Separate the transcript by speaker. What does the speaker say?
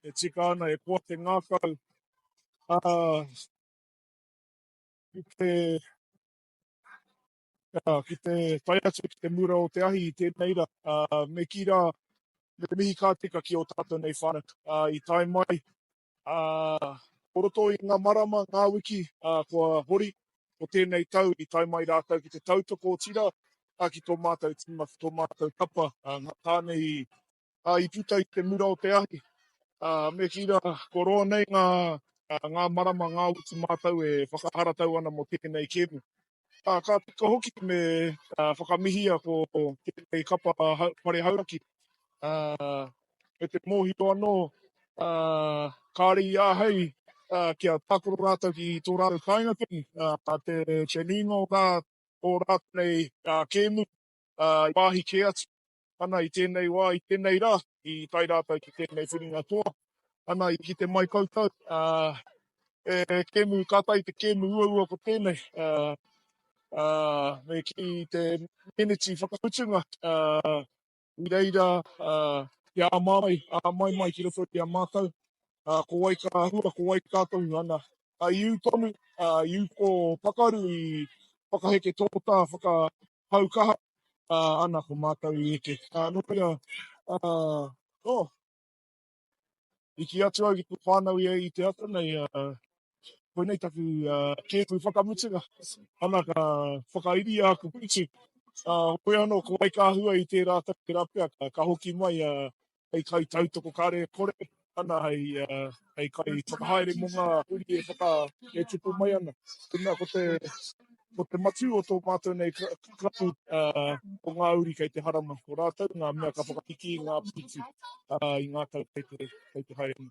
Speaker 1: e tika ana, e koa te ngākau, ā, ki te, ā, ki te tae atu ki te mura o te ahi i tēnei rā, ā, me kī rā, me mihi kā tika ki ō tātou nei whānau, ā, i tae mai, ā, o roto i ngā marama, ngā wiki, ā, kua hori o tēnei tau, i tae mai rātou ki te tautoko, otirā, ā, ki tō mātou tīma, ki tō mātou kapa, ā, ngā tāne i ā, i puta i te mura o te ahi, ā, me kī rā, kua roa nei ngā, ngā marama, ngā utu mātou e whakaharatau ana mō tēnei kēmu. Ā, ka tika hoki me whakamihia ko tēnei kapa Whare Hauraki, ā, me te mōhio anō, ā, kāre i āhei kia tākaro rātou ki tō rātou kāinga tonu, ā, te nuinga o rā, o rātou nei kēmu, ā, wāhi kē atu. Ana i tēnei wā, i tēnei rā, i tae rātou ki tēnei whiringa toa. Ana i kite mai koutou, ā, he kēmu, kātahi te kēmu uaua ko tēnei, ā, ā, me kī i te meneti whakamutunga, ā, i reira, ā, kia māmai, ā, mai mai ki roto i a mātou, ā, ko wai ka hua, ko wai ka tohu, ana, ā, i ū tonu, ā, i ū kō pakaru i whakaheke tō tā whaka. hau kaha ana ko mātou i eke. Ā, nō reira, ā, ō, i kī atu au ki te whānau ia i te ata nei, ā, koinei taku kēpu whakamutunga. Ana ka whakairia aku pīti, ā, hoea anō ko Waikāhua i tērā tau, tērā pia ka hoki mai, ā, hei kai tautoko kare kore ana hei kai whakahaere mo nga uri e whaka e tupu mai ana. Tena ko te ko te matu o to matou nei krapu ko nga uri kei te harama ko ratou nga mea ka whakahiki i nga piritu i nga tau kei te haere ana.